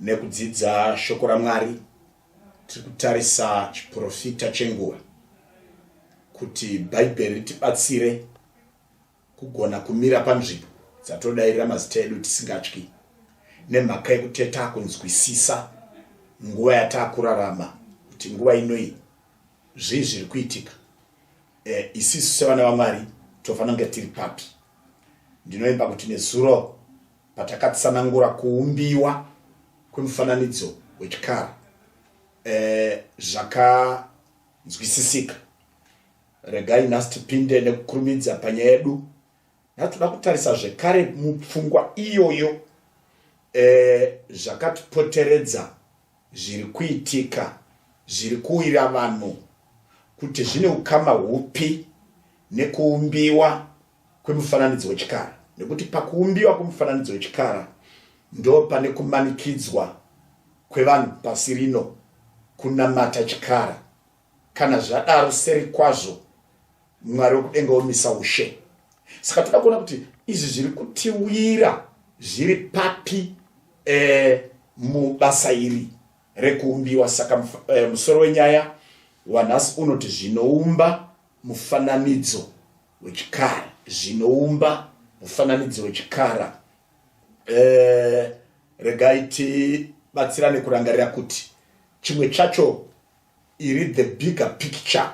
Nekudzidza shoko raMwari tiri kutarisa chiprofita chenguva kuti bhaibheri ritibatsire kugona kumira panzvimbo dzatodairira mazita edu tisingatyi nemhaka yekuteta kunzwisisa nguva yataakurarama kuti nguva inoi zvii zviri kuitika e, isisu sevana vamwari tofanira kunge tiri papi ndinoimba kuti nezuro Patakatsanangura kuumbiwa kwemufananidzo wechikara eh, zvakanzwisisika regai nhasi tipinde nekukurumidza panyaya yedu natoda kutarisa zvekare mupfungwa iyoyo eh, zvakatipoteredza zviri kuitika zviri kuwira vanhu kuti zvine ukama hupi nekuumbiwa kwemufananidzo wechikara nekuti pakuumbiwa kwemufananidzo wechikara ndo pane kumanikidzwa kwevanhu pasi rino kunamata chikara kana zvadaro seri kwazvo mwari wekudenga womisa ushe saka toda kuona kuti izvi zviri kutiwira zviri papi eh, mubasa iri rekuumbiwa saka eh, musoro wenyaya wanhasi unoti zvinoumba mufananidzo wechikara zvinoumba mufananidzo wechikara eh, regai tibatsirane kurangarira kuti chimwe chacho iri the bigger picture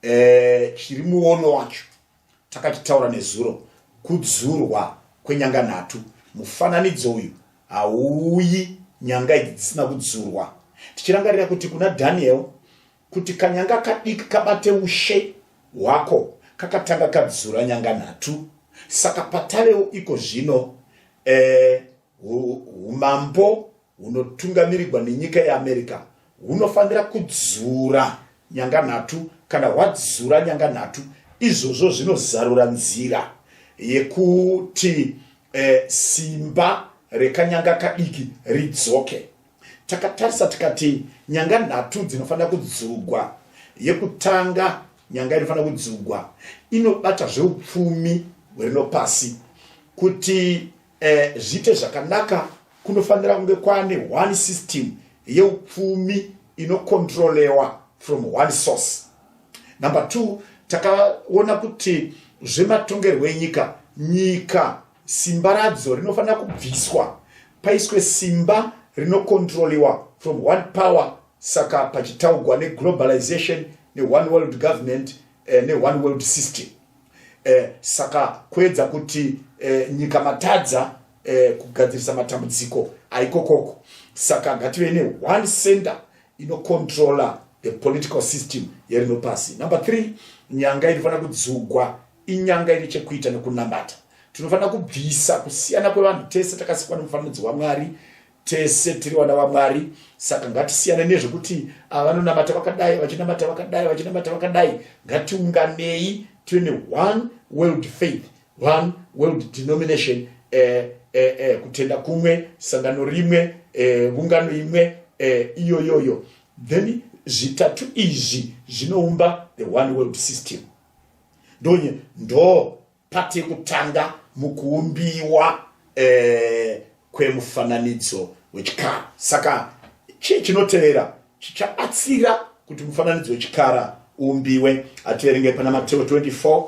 eh, chiri muono wacho takachitaura nezuro kudzurwa kwenyanga nhatu mufananidzo uyu hauyi nyanga idzi dzisina kudzurwa tichirangarira kuti kuna daniel kuti kanyanga kadiki kabate ushe hwako kakatanga kadzura nyanga nhatu saka patavewo iko zvino eh, umambo hunotungamirigwa nenyika yeamerica hunofanira kudzura nyanga nhatu kana hwadzura nyanga nhatu izvozvo zvinozarura nzira yekuti eh, simba rekanyanga kadiki ridzoke takatarisa tikati nyanga nhatu dzinofanira kudzugwa yekutanga nyanga inofanira kudzugwa inobata zveupfumi hwerino pasi kuti eh, zviite zvakanaka kunofanira kunge kwane one system yeupfumi inokontrolewa from one source number two takaona kuti zvematongerwo enyika nyika Simba radzo rinofanira kubviswa paiswe simba rinokontroliwa from one power saka pachitaugwa neglobalization neone world government eh, neone world system eh, saka kuedza kuti eh, nyika matadza eh, kugadzirisa matambudziko aikokoko saka ngative neone center inocontrola the political system yerino pasi number three nyanga inofanira kudzugwa inyanga ine chekuita nekunamata tinofanira kubvisa kusiyana kwevanhu tese takasikwa nemufananidzo wamwari tese tiri vana vamwari saka ngatisiyane nezvekuti ava vanonamata vakadai vachinamata vakadai vachinamata vakadai ngatiunganei tive neone world faith one world denomination eh, eh, eh, kutenda kumwe sangano rimwe eh, ungano imwe eh, iyoyoyo then zvitatu izvi zvinoumba the one world system ndonye ndo pati kutanga mukuumbiwa eh, kwemufananidzo wechikara saka chii chinotevera chichabatsira kuti mufananidzo wechikara uumbiwe ativerenge pana mateo 24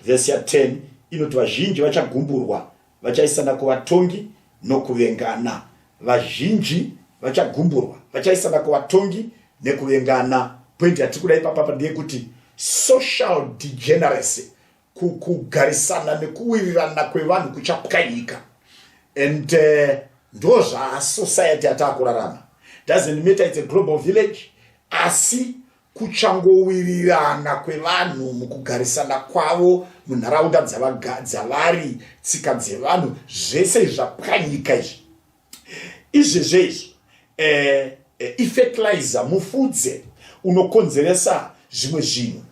vhesi ya 10 inoti vazhinji vachagumburwa vachaisana kuvatongi nokuvengana vazhinji vachagumburwa vachaisana kuvatongi nekuvengana pointi yatiri kuda ipapapa ndeyekuti social degeneracy kugarisana nekuwirirana kwevanhu kuchapwanyika and uh, ndo zvasociety yataakurarama doesn't matter its a global village asi kuchangowirirana kwevanhu mukugarisana kwavo munharaunda dzavari tsika dzevanhu zvese izvi zvapwanyika izvi izvezvo izvo eh, eh, ifetilizer mufudze unokonzeresa zvimwe zvinhu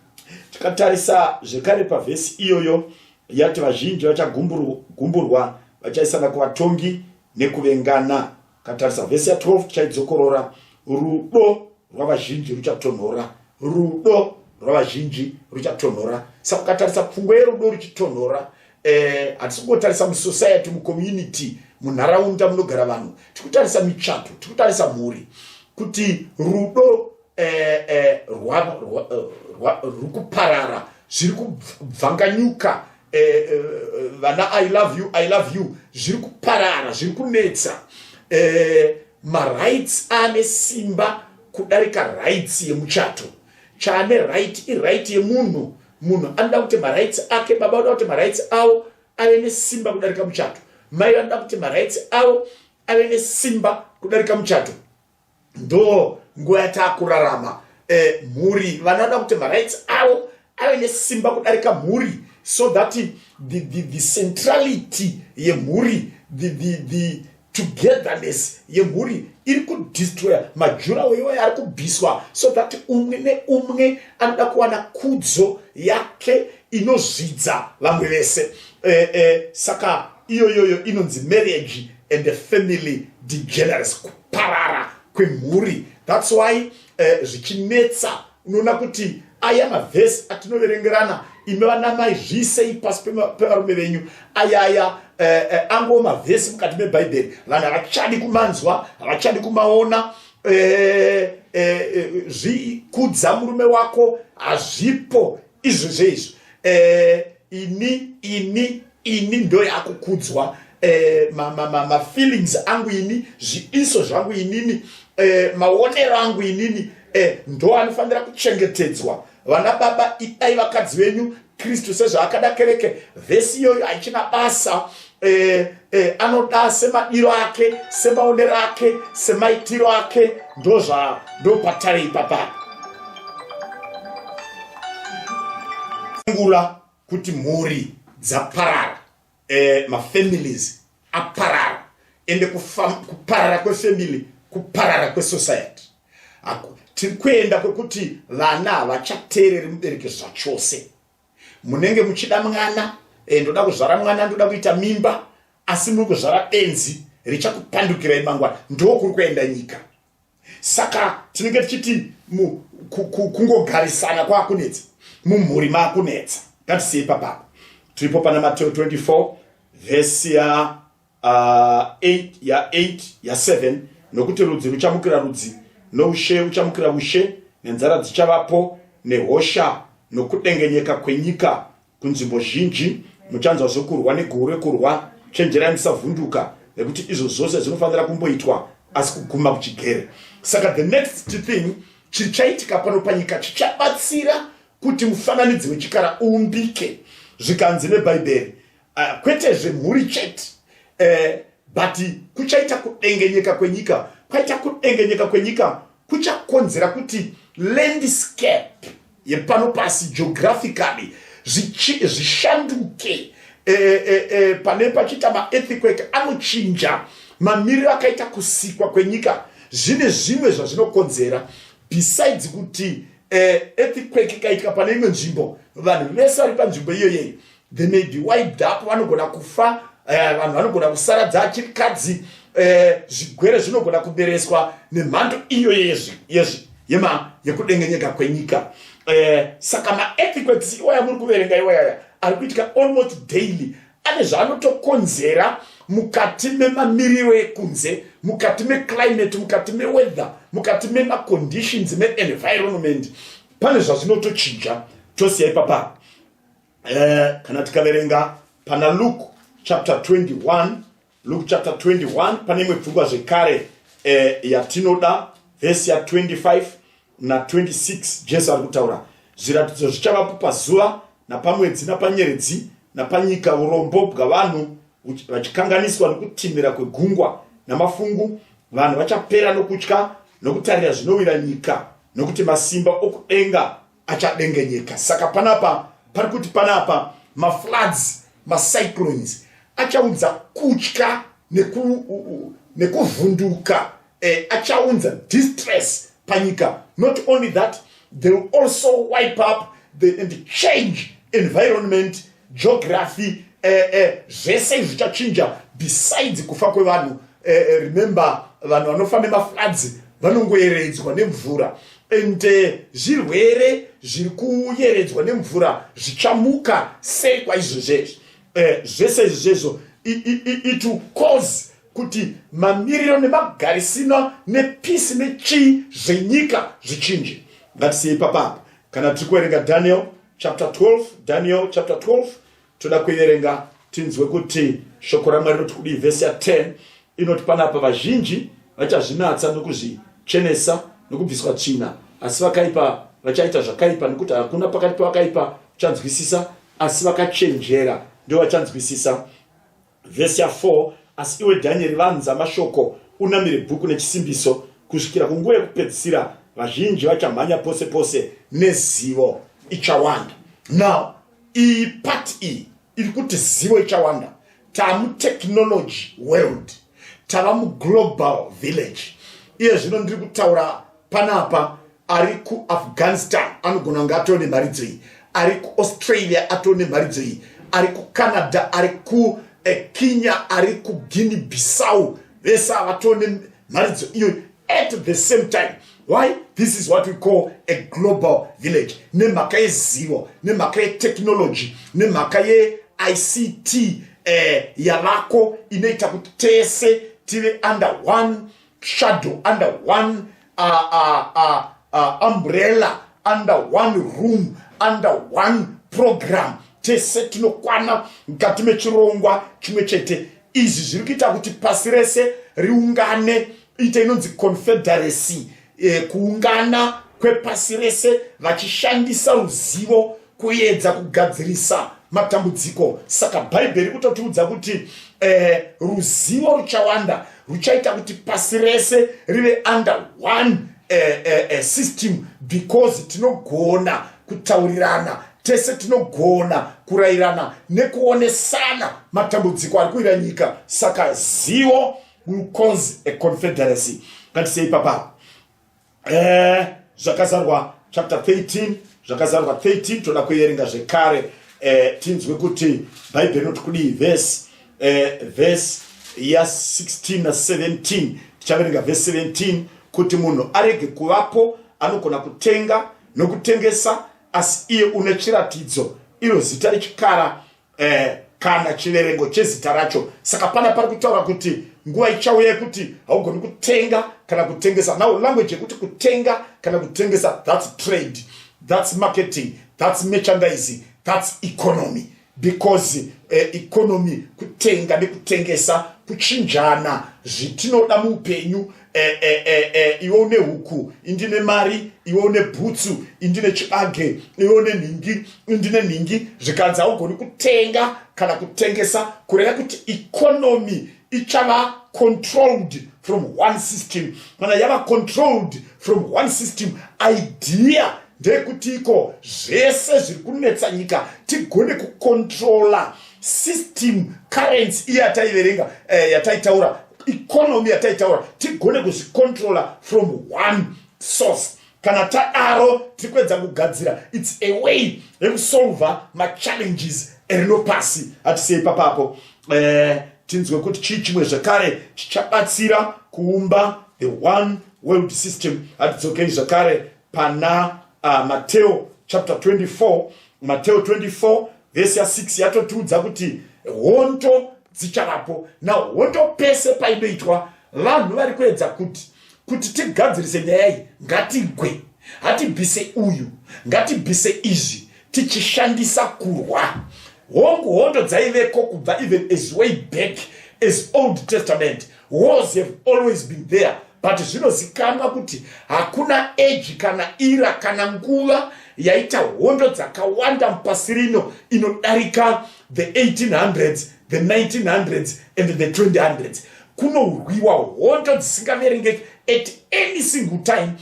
tikatarisa zvekare pavhesi iyoyo yati vazhinji vachagumburwa vachaisana kuvatongi nekuvengana Katarisa vhesi ya 12 tichaidzokorora. Rudo rwavazhinji ruchatonhora, rudo rwavazhinji ruchatonhora. Saka ukatarisa pfungwa yerudo ruchitonhora, eh, hatisi kungotarisa musociety, mucommunity, munharaunda munogara vanhu, tikutarisa michato, tikutarisa mhuri, kuti rudo eh, eh, rwava, rwa, eh, rwa, rwukuparara zviri kubvanganyuka eh, eh, vana i love you i love you zviri kuparara zviri kunetsa eh, marights ane simba kudarika rights yemuchato chaane right iright yemunhu munhu anoda kuti marights ake baba vanoda kuti marights avo ave nesimba kudarika muchato mai vanoda kuti marights avo ave nesimba kudarika muchato ndo nguva yataakurarama eh, mhuri vanoda kuti marights avo ave nesimba kudarika mhuri so that the, the, the centrality yemhuri the, the, the togetherness yemhuri iri kudestroya majurawo iwayo ari kubviswa so that umwe neumwe anoda kuwana kudzo yake inozvidza vamwe vese eh, eh, saka iyoyoyo inonzi marriage and family degeneracy kuparara kwemhuri thats why uh, zvichinetsa unoona kuti aya mavhesi atinoverengerana imi vanamai zviisei pasi pevarume venyu ayaya uh, eh, uh, eh, angowo mavhesi mukati mebhaibheri vanhu havachadi kumanzwa havachadi kumaona uh, uh, zvikudza murume wako hazvipo izvo zveizvo uh, ini ini ini ndoyakukudzwa eh, mafeelings ma, ma, ma angu ini zvidiso zvangu inini eh, maonero angu inini eh, ndo anofanira kuchengetedzwa vana baba idai vakadzi venyu kristu sezvaakada kereke vhesi iyoyo haichina basa eh, eh, anoda semadiro ake semaonero ake semaitiro ake ndozva ndopatarei papaa ngula kuti mhuri dzaparara eh, mafamilies aparara ende kuparara kwefamily kuparara kwesociety tiri kuenda kwekuti vana havachateereri mubereki zvachose munenge muchida mwana eh, ndoda kuzvara mwana ndoda kuita mimba asi muri kuzvara benzi richakupandukirai mangwana ndokuri kuenda nyika saka tinenge tichiti kungogarisana kwakunetsa mumhuri makunetsa ngatisiyei papapa tiripo pana mateo 24 vhesi ya uh, 8 ya 8 ya 7 nokuti rudzi ruchamukira rudzi noushe uchamukira ushe nenzara dzichavapo nehosha nokudengenyeka kwenyika kunzvimbo zhinji muchanzwa zvekurwa negore kurwa chenjerai musavhunduka nekuti izvo zvose zvinofanira kumboitwa asi kuguma kuchigere saka the next thing chichaitika pano panyika chichabatsira kuti mufananidzi wechikara uumbike zvikanzi nebhaibheri uh, kwete zvemhuri chete uh, but kuchaita kudengenyeka kwenyika kwaita kudengenyeka kwenyika kuchakonzera kuti landscape yepano pasi geographically zvishanduke e, e, e, pane pachiita maearthquake anochinja mamiriro akaita kusikwa kwenyika zvine zvimwe zvazvinokonzera besides kuti e, earthquake ikaitika pane imwe nzvimbo vanhu vese vari panzvimbo iyoyei they may be wiped up vanogona kufa eh, vanhu vanogona kusaradza chirikadzi eh, zvigwere zvinogona kubereswa nemhando iyo yezvi yezvi yema yekudengenyeka kwenyika eh, saka maethiquets iwaya muri kuverenga iwayaya ari kuitika almost daily ane zvaanotokonzera mukati memamiriro ekunze mukati meclimate mukati meweather mukati memaconditions meenvironment pane zvazvinotochinja tosiya ipapaa eh, kana tikaverenga pana luke chapter 21 luke chapter 21 pane imwe pfungwa zvekare eh, yatinoda vhesi ya 25 na 26 jesu ari kutaura zviratidzo zvichavapo pazuva napamwedzi napanyeredzi napanyika urombo bwavanhu vachikanganiswa nokutinhira kwegungwa namafungu vanhu vachapera nokutya nokutarira zvinowira nyika nokuti masimba okudenga achadengenyeka saka panapa pari kuti panapa mafloods macyclones achaunza kutya nekuvhunduka neku eh, achaunza distress panyika not only that they will also wipe up the, and change environment geography eh, eh, zvese izvi zvichachinja besides kufa kwevanhu eh, eh, remember vanhu vanofa nemafloods vanongoyeredzwa nemvura and eh, zvirwere zviri kuyeredzwa nemvura zvichamuka sei kwaizvozvezvi eh, zvese izvi zvezvo it will cause kuti mamiriro nemagarisino nepisi nechii zvenyika zvichinje ngatisiyei papapa kana tiri kuverenga daniel chapter 12 daniel chapter 12 toda kuiverenga tinzwe kuti shoko ramwari rinoti kudii vhesi ya 10 inoti panapa vazhinji vachazvinatsa nokuzvichenesa nokubviswa tsvina asi vakaipa vachaita zvakaipa nekuti hakuna pakati pavakaipa uchanzwisisa asi vakachenjera ndio vachanzwisisa Vhesi ya 4 Asi iwe Dhanyeri, vanza mashoko, unamire bhuku nechisimbiso, kusvikira kunguva yekupedzisira, vazhinji vachamhanya pose pose, nezivo ichawanda. Now, iyi part iyi iri kuti zivo ichawanda taa mutechnology world tava muglobal village iye zvino ndiri kutaura panapa ari kuafghanistan anogona kunge atoo nemharidzo iyi ari kuaustralia atoo nemharidzo iyi ari kucanada ari kukenya eh, ari kuguine bissau vese avatoo nemharidzo iyoyi at the same time why this is what we call a global village nemhaka yezivo nemhaka yetechnology nemhaka yeict eh, yavako inoita kuti tese tive under one shadow under one uh, uh, uh, uh, umbrella under one room under one program tese tinokwana mukati mechirongwa chimwe chete izvi zviri kuita kuti pasi rese riungane ita inonzi confederacy eh, kuungana kwepasi rese vachishandisa ruzivo kuedza kugadzirisa matambudziko saka bhaibheri kutotiudza kuti eh, ruzivo ruchawanda ruchaita kuti pasi rese rive under one eh, eh, eh, system because tinogona kutaurirana tese tinogona kurayirana nekuonesana matambudziko ari kuira nyika saka zivo will cause a confederacy ngatisei papapa eh, zvakazarwa chapter 13 zvakazarwa 13 toda kuerenga zvekare eh, tinzwe kuti bhaibheri rinoti kudii vhesi eh, vhesi ya 16 na 17 tichaverenga vhesi 17 kuti munhu arege kuvapo anogona kutenga nokutengesa asi iye une chiratidzo iro zita rechikara eh, kana chiverengo chezita racho saka pana pari kutaura kuti nguva ichauya yekuti haugoni kutenga kana kutengesa now language yekuti kutenga kana kutengesa thats trade thats marketing thats merchandise thats economy because eh, economy kutenga nekutengesa kuchinjana zvitinoda muupenyu eh, eh, eh, eh, iwe une huku indine mari iwe une bhutsu indine chibage iwe une nhingi indine nhingi zvikanzi haugoni kutenga kana kutengesa kureva kuti ikonomi ichava controlled from one system kana yava controlled from one system idea ndeyekuti iko zvese zviri kunetsa nyika tigone kukontrola system currency iye ataiverenga eh, yataitaura economy yataitaura tigone kuzvicontroller from one source kana tadaro tiri kuedza kugadzira its a way yekusolver machallenges erino pasi hatisei papapo eh, tinzwe kuti chii chimwe zvekare chichabatsira kuumba the one world system hatidzokei zvekare pana uh, mateo chapter 24 mateo 24 vhesi ya 6 yatotiudza kuti hondo dzichavapo na hondo pese painoitwa vanhu vari kuedza kuti kuti tigadzirise nyaya iyi ngatigwe hatibvise uyu ngatibvise izvi tichishandisa kurwa hongu hondo dzaiveko kubva even as way back as old testament wars have always been there but zvinozikanwa kuti hakuna age kana ira kana nguva yaita hondo dzakawanda mupasi rino inodarika the 1800s the 1900s and the 2000s kunorwiwa hondo dzisingaverengeki at any single time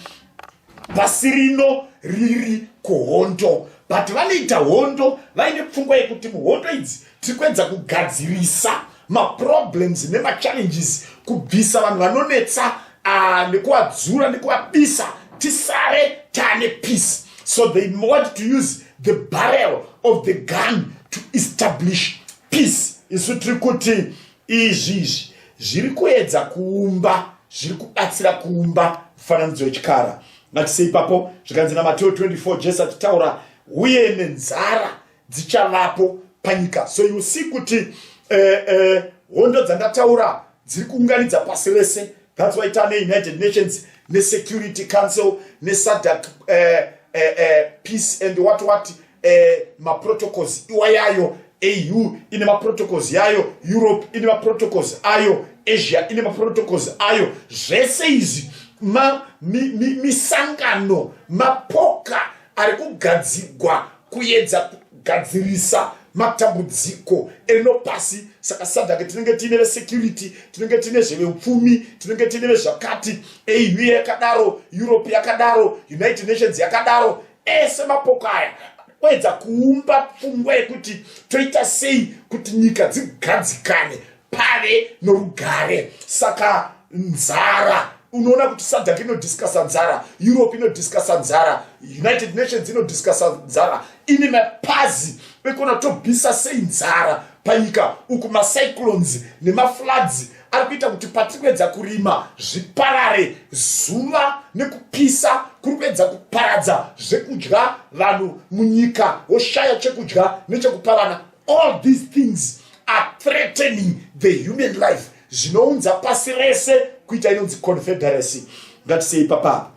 pasi rino riri kuhondo but vanoita hondo vaine pfungwa yekuti muhondo idzi tiri kuedza kugadzirisa maproblems nemachallenges kubvisa vanhu vanonetsa ah, nekuvadzura nekuvabisa tisare taane peace so they want to use the barrel of the gun to establish peace isu tiri kuti izvi izvi zviri kuedza kuumba zviri kubatsira kuumba mufananidzo wechikara ngatise ipapo zvikanzi namateo 24 jesu achitaura uye nenzara dzichavapo panyika so you see kuti eh, eh, hondo dzandataura dziri kuunganidza pasi rese thats why tane united nations nesecurity council nesadak eh, eh, eh, peace and what what eh, maprotocols iwayayo au ine maprotocols yayo europe ine maprotocols ayo asia ine maprotocols ayo zvese izvi misangano mi, mi, mapoka ari kugadzigwa kuyedza kugadzirisa matambudziko eno pasi saka sadhake tinenge tiine vesecurity tinenge tiine zveveupfumi tinenge tiine vezvakati au yakadaro europe yakadaro united nations yakadaro ese mapoko aya oedza kuumba pfungwa yekuti toita sei kuti nyika dzigadzikane pave norugare saka nzara unoona kuti sadak inodiscusa nzara europe inodiscusa nzara united nations inodiscusa nzara ini mapazi ekuona tobvisa sei nzara panyika uku macyclones nemafloods ari kuita kuti patiri kuedza kurima zviparare zuva nekupisa kuri kuedza kuparadza zvekudya vanhu munyika woshaya chekudya nechekupa vana all these things are threatening the human life zvinounza pasi rese kuita inonzi confederacy ngatisei papapa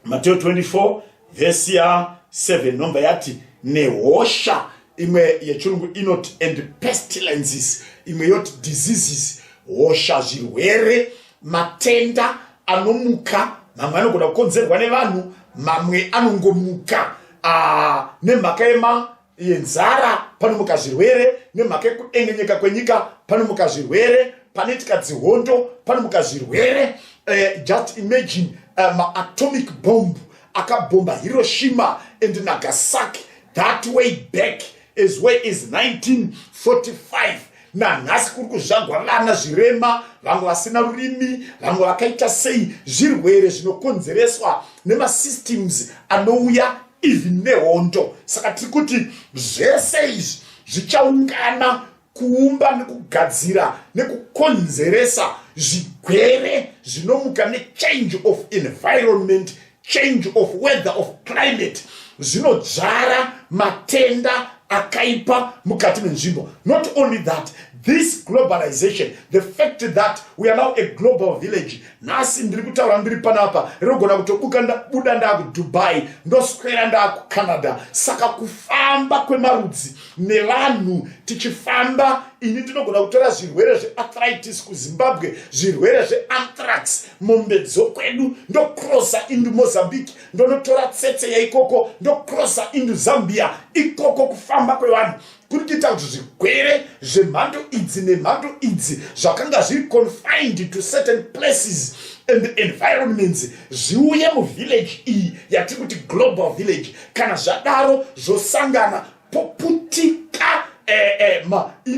Mateo 24 vhesi ya 7 nomba yati nehosha imwe yechirungu inoti and pestilences imwe yoti diseases hosha zvirwere matenda anomuka mamwe anogona kukonzerwa nevanhu mamwe anongomuka ah, nemhaka yema iye nzara panomuka zvirwere nemhaka yekudengenyeka kwenyika panomuka zvirwere panoitika dzihondo panomuka zvirwere uh, just imagine eh, maatomic um, bomb akabhomba hiroshima and nagasaki that way back as way as 1945 nanhasi kuri kuzvagwa vana zvirema vamwe vasina rurimi vamwe vakaita sei zvirwere zvinokonzereswa nemasystems anouya ivhi nehondo saka tiri kuti zvese izvi zvichaungana kuumba nekugadzira nekukonzeresa zvigwere zvinomuka nechange of environment change of weather of climate zvinodzvara matenda akaipa mukati menzvimbo not only that this globalization the fact that we are now a global village nhasi ndiri kutaura ndiri panapa rinogona kutobuka ndabuda ndaakudubai ndoswera ndaakucanada saka kufamba kwemarudzi nevanhu tichifamba ini ndinogona kutora zvirwere zveathritis kuzimbabwe zvirwere zveanthrax mombe dzokwedu ndokrosa indu mozambique ndonotora tsetse yaikoko ndokrosa indu zambia ikoko kufamba kwevanhu kuri kuita kuti zvigwere zvemhando idzi nemhando idzi zvakanga zviri confined to certain places and the environments zviuye muvillage iyi yatiri kuti global village kana zvadaro zvosangana poputika eh, eh,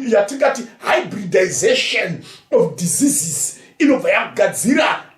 yatingati hybridization of diseases inobva yagadzira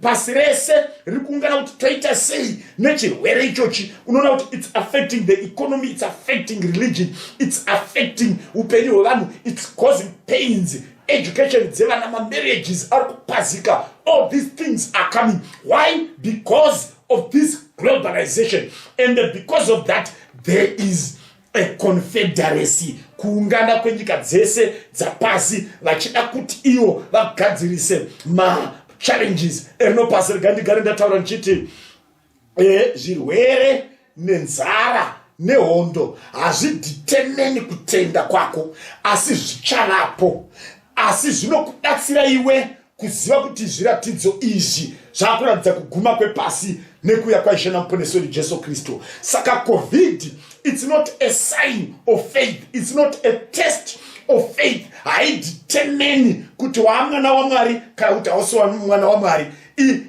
pasi rese riri kuungana kuti toita sei nechirwere ichochi unoona kuti its affecting the economy its affecting religion its affecting upenyu hwevanhu its causing pains education dzevana mamarriages ari kupazika all these things are coming why because of this globalization and because of that there is econfederacy kuungana kwenyika dzese dzapasi vachida kuti iwo vagadzirise machallenges erinopasi rega ndigare ndataura ndichiti e, zvirwere nenzara nehondo hazviditemeni kutenda kwako asi zvichavapo asi zvinokubatsira iwe kuziva kuti zviratidzo izvi zvakuratidza kuguma kwepasi nekuuya kwaishe namuponesi wedu jesu kristu saka covid its not a sign of faith its not a test of faith haidetemeni kuti waa mwana wamwari kana kuti hausi mwana wamwari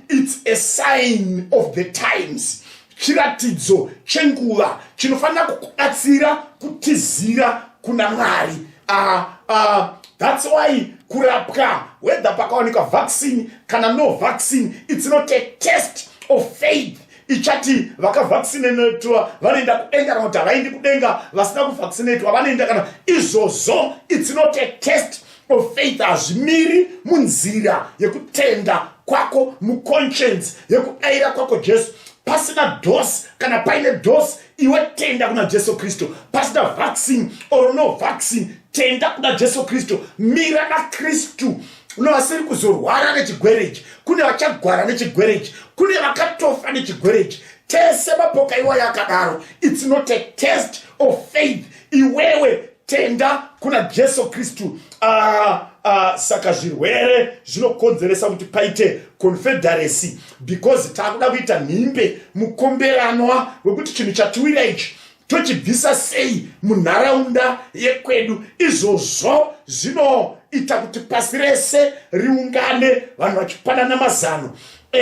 its a sign of the times chiratidzo chenguva chinofanira kukubatsira kutizira kuna mwari uh, uh, thats why kurapwa whether pakawanikwa vaccine kana no vaccine its not a test of faith ichati vakavaccinatwa vanoenda kudenga kana kuti havaendi kudenga vasina kuvaccinatwa vanoenda kana izvozvo its not a test of faith hazvimiri munzira yekutenda kwako muconscience yekudaira kwako jesu pasina dos kana paine dos iwe tenda kuna jesu kristu pasina vaccine or no vaccine tenda kuna jesu kristu mira nakristu uno vasiri kuzorwara nechigwere ichi kune vachagwara nechigwere ichi kune vakatofa nechigwere ichi tese mapoka iwayo akadaro its not a test of faith iwewe tenda kuna jesu kristu uh, uh, saka zvirwere zvinokonzeresa kuti paite confederacy because takuda kuita nhimbe mukomberanwa wekuti chinhu chatiwira ichi tochibvisa sei munharaunda yekwedu izvozvo zvinoita kuti pasi rese riungane vanhu vachipanana mazano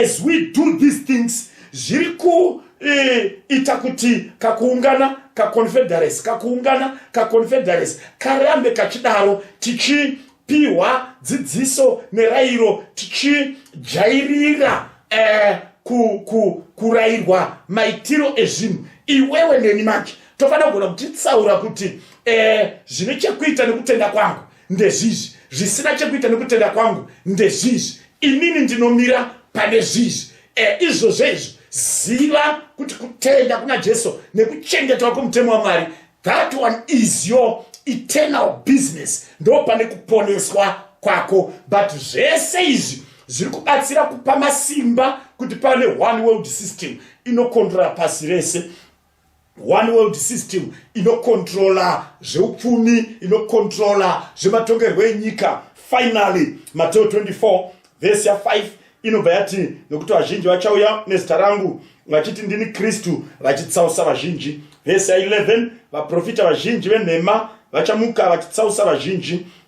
as we do these things zviri ku e, ita kuti kakuungana kaconfederacy kakuungana kaconfederacy karambe kachidaro tichipihwa dzidziso nerairo tichijairira eh, ku, ku, kurairwa maitiro ezvinhu iwewe neni manje tofanira kugona kutitsaura kuti eh, zvine chekuita nekutenda kwangu ndezvizvi zvisina chekuita nekutenda kwangu ndezvizvi inini ndinomira pane zvizvi Eh, izvozvo izvo ziva kuti kutenda kuna jesu nekuchengetwa kwemutemo wamwari that one is your eternal business ndo pane kuponeswa kwako but zvese izvi zviri kubatsira kupa masimba kuti pane one world system inokondora pasi rese one world system inokontrola zveupfumi inokontrola zvematongerwo enyika finally mateo 24 vhesi ya5 inobva yati nokuti vazhinji vachauya nezita rangu vachiti ndini kristu vachitsausa vazhinji vhesi ya11 vaprofita vazhinji venhema vachamuka vachitsausa vazhinji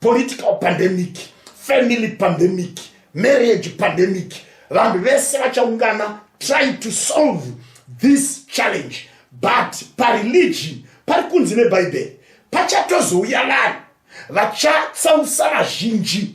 political pandemic family pandemic marriage pandemic vanhu vese vachaungana try to solve this challenge but pareligion pari kunzi nebhaibheri pachatozouya vanhu vachatsausa vazhinji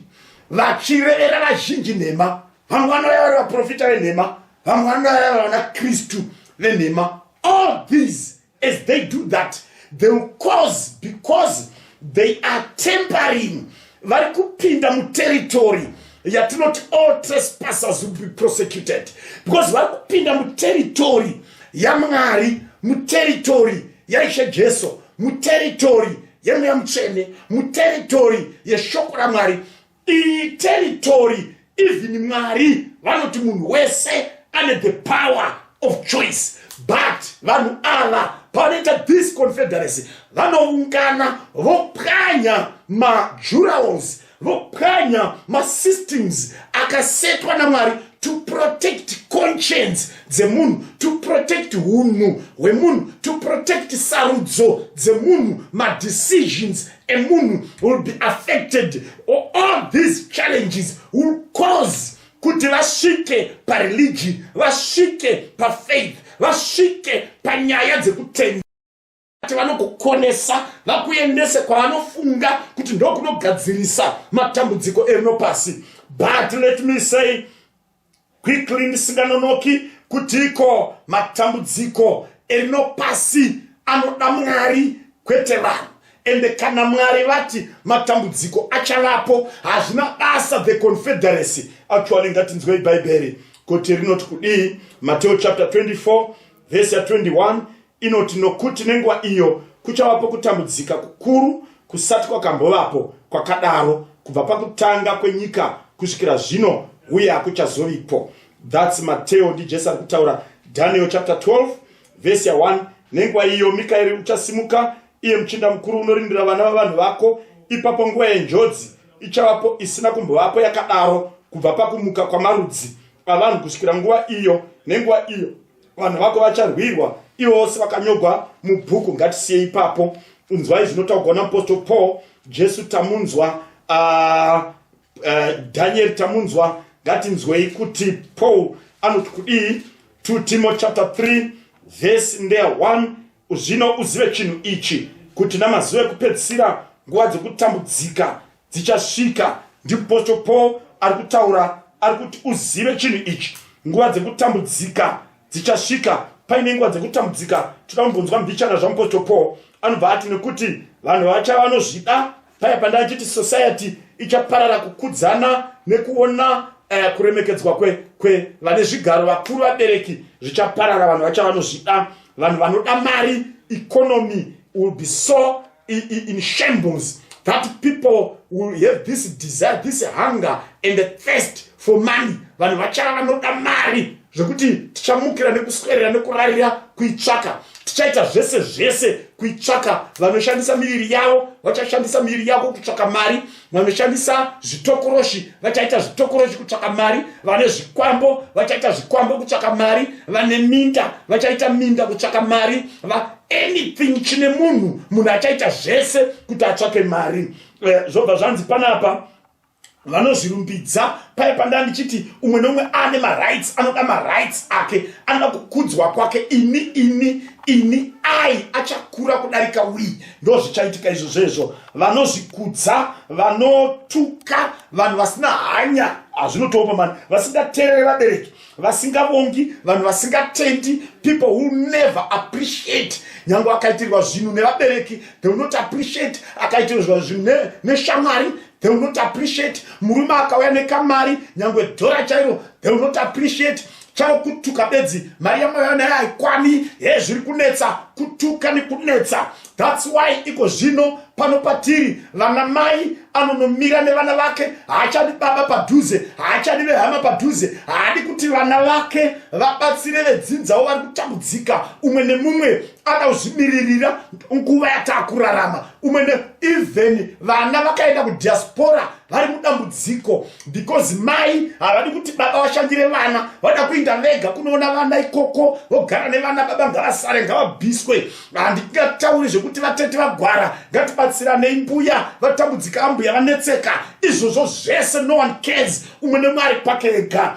vachirevera vazhinji nhema vamwe vanouya vari vaprofita venhema vamwe vanouya vari vana kristu venhema all these As they do that, they will cause because they are tempering vari kupinda muterritori yatinoti all trespassers will be prosecuted because vari kupinda muterritori yamwari muterritori yaishe jesu muterritori yemweya mutsvene muterritori yeshoko ramwari iyi territory even mwari vanoti munhu wese ane the power of choice but vanhu ava pavanoita this confederacy vanoungana vopwanya majurals vopwanya masystems akasetwa namwari to protect conscience dzemunhu to protect unhu hwemunhu to protect sarudzo dzemunhu madecisions a munhu will be affected or all these challenges will cause kuti vasvike pareligion vasvike pafaith vasvike panyaya dzekutenda ati vanokukonesa vakuendese kwavanofunga kuti ndokunogadzirisa matambudziko erino pasi but let me say quickly ndisinganonoki kutiko matambudziko erino pasi anoda mwari kwete vanhu ende kana mwari vati matambudziko achavapo hazvina basa the confederacy actually ngatinzwei bhaibheri kuti rinoti kudii mateo chapter 24 vhesi ya 21 inoti nokuti nenguva iyo kuchavapo kutambudzika kukuru kusati kwakambovapo kwakadaro kubva pakutanga kwenyika kusvikira zvino uye hakuchazovipo thats mateo ndijesu ari kutaura daniel chapter 12 vhesi ya 1 nenguva iyo mikaeri uchasimuka iye muchinda mukuru unorindira vana vavanhu vako ipapo nguva yenjodzi ichavapo isina kumbovapo yakadaro kubva pakumuka kwamarudzi avanhu kusvikira nguva iyo nenguva iyo vanhu vako vacharwirwa ivo vose vakanyogwa mubhuku ngatisiye ipapo inzwai zvinotaugwa naapostle paul jesu tamunzwa uh, uh, danieri tamunzwa ngatinzwei kuti paul anoti kudii 2 timo chapter 3 vhesi ndeya 1 zvino uzive chinhu ichi kuti namazuva ekupedzisira nguva dzokutambudzika dzichasvika ndipostle paul ari kutaura ari kuti uzive chinhu ichi nguva dzekutambudzika dzichasvika paine nguva dzekutambudzika toda kumbonzwa mbichana zvamupostle paul anobva ati nekuti vanhu vacha vanozvida paya pandachiti society ichaparara kukudzana nekuona uh, kuremekedzwa kwevane zvigaro vakuru vabereki zvichaparara vanhu vacha vanozvida vanhu vanoda mari economy will be so in shambles that people will have this desire this hunger and the thirst for money vanhu vachava vanoda mari zvekuti tichamukira nekuswerera nekurarira kuitsvaka tichaita zvese zvese kuitsvaka vanoshandisa miviri yavo vachashandisa miviri yavo kutsvaka mari vanoshandisa zvitokoroshi vachaita zvitokoroshi kutsvaka mari vane zvikwambo vachaita zvikwambo kutsvaka mari vane minda vachaita minda kutsvaka mari va anything chine munhu munhu achaita zvese kuti atsvake mari eh, zvobva zvanzi panapa vanozvirumbidza paye pandaa ndichiti umwe neumwe ane marights anoda marights ake anoda kukudzwa kwake ini ini ini ai achakura kudarika wii ndo zvichaitika izvo zvezvo vanozvikudza vanotuka vanhu vasina hanya hazvinotooma mani vasingateerere vabereki vasingavongi vanhu vasingatendi people who never appreciate nyange akaitirwa zvinhu nevabereki they will not appreciate akaitirwa zvinhu neshamwari they will not appreciate murume akauya nekamari nyange dhora chairo they will not appreciate chavo kutuka bedzi mari yamwaya naye haikwani he zviri kunetsa kutuka nekunetsa thats why iko zvino pano patiri vana mai anonomira nevana vake haachadi baba padhuze haachadi vehama padhuze haadi kuti vana vake vabatsire vedzidzawo vari kutambudzika umwe nemumwe ada kuzvimiririra nguva yataakurarama umwe even vana vakaenda kudiaspora vari mudambudziko because mai havadi kuti baba vashandire vana vada kuinda vega kunoona vana ikoko vogara nevana baba ngavasare ngavabviswe handingatauri zvekuti vatete vagwara ngatibatsiranei mbuya vatambudzika ambuya vanetseka izvozvo zvese no one cares umwe nemwe ari kwake ega